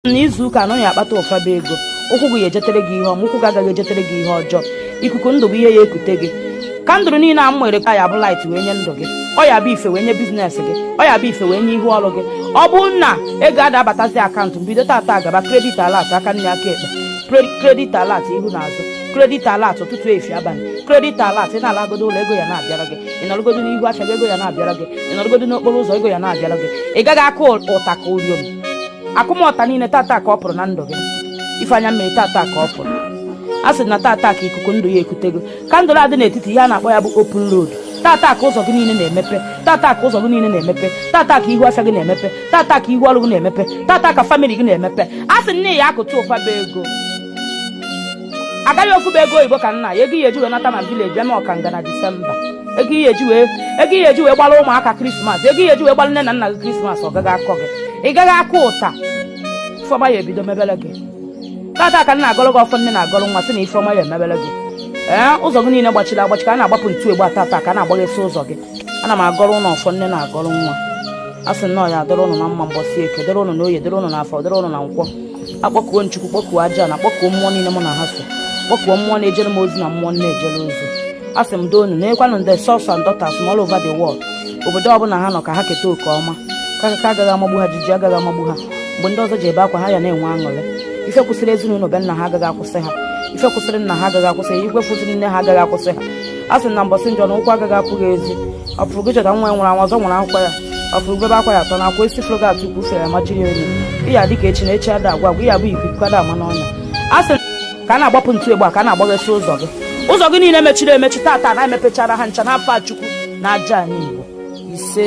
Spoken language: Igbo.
na izu ụka a nọ ị ya akpata ụfaba ego ụkwụ gị ya ejetere gị ihe ọma ụkwụ gị agaghị ejetere gị ihe ọjọọ ikuku ndụ bụ ihe ya ekute gị kandụl niile a m nwere ka ya bụ light wee nye ndụ gị ọ ya bụ ife wee nye biznes gị ọ ya bụ ife wee nye ihu ọrụ gị ọ bụrụ na ego ada abatazi akaụntụ mbido tata gaba kredit alat aka nne aka ekpe Pre- kredit alat ihu na azụ kredit alat ụtụtụ efifie abalị kredit alat ị na-alagodo ụlọ ego ya na-abịara gị ị nọrọgodo n'ihu afịa gị ego ya na-abịara gị ị nọrọgodo n'okporo ụzọ ego ya na-abịara gị ị gaghị akụ ụta ka uriom akụmọta niile tata ka ọ pụrụ na ndụ gị ife anya mmiri tata ka ọ pụrụ a sị na tata ka ikuku ndụ ya ekute gị kandụl a dị n'etiti ihe a na-akpọ ya bụ open road tata ka ụzọ gị niile na-emepe tata ka ụzọ gị niile na-emepe tata ka ihu afịa gị na-emepe tata ka ihu ọrụ gị na-emepe tata ka famili gị na-emepe a sị na ị ya akụta ụfaba ego agaghị ofu bụ ego oyibo ka nna ya ego ị ya eji wee nata na vileji bịa na ọkanga na disemba ego ị ya eji wee ego ị ya eji wee gbara ụmụaka krismas ego ị ya eji wee gbara nne na nna gị krismas ọ gaghị akọ gị ị gaghị akụ ụta ife ọma ya ebido mebere gị tata ka m na-agọrọ gị ọfọ nne na-agọrọ nwa sị na ife ọma ya emebere gị ee ụzọ gị niile gbachiri agbachi ka a na-agbapụ ntu egbe a tata ka a na-agbaghesi ụzọ gị ana m agọrọ ụnụ ọfọ nne na-agọrọ nwa a sị na ọ ya adịrị ụnụ na mma mbọsị eke dịrị ụnụ na oye dịrị ụnụ na afọ dịrị ụnụ na nkwọ akpọkuo m chukwu kpọkuo ajana kpọkuo mmụọ niile mụ na ha so kpọkuo mmụọ na-ejere m ozi na mmụọ m na-ejere ozi a sị m doonu nekwanụ ndị sons and daughters m all over the world obodo ọbụla ha nọ ka ha keta oke ọma kakaka agaghị amagbu ha jiji agaghị amagbu ha mgbe ndị ọzọ ji ebe akwa ha ya na-enwe aṅụrị ife kwụsịrị ezinụlọ be nna ha agaghị akwụsị ha ife kwụsịrị nna ha agaghị akwụsị ha ife kwụsịrị nne ha agaghị akwụsị ha a sị na mbọsị njọ na ụkwụ agaghị apụ gị ezi ọ fụrụ gị chọta nwa ya nwụrụ anwụ ọzọ nwụrụ akwụkwọ ya ọ fụrụ bebe akwa ya atọ na akwa isi fụrụ gị atụ ukwu fere ma jiri onye ị ya adị ka echi na echi ada agwụ agwụ ị ya abụ ikuku ada ama n'ọnya a sị ka a na-agbapụ ntu egbe a ka a na-agbaghesị ụzọ gị ụzọ gị niile mechiri emechi tata na-emepechara ha ncha n'afa chukwu na ajana igbo ise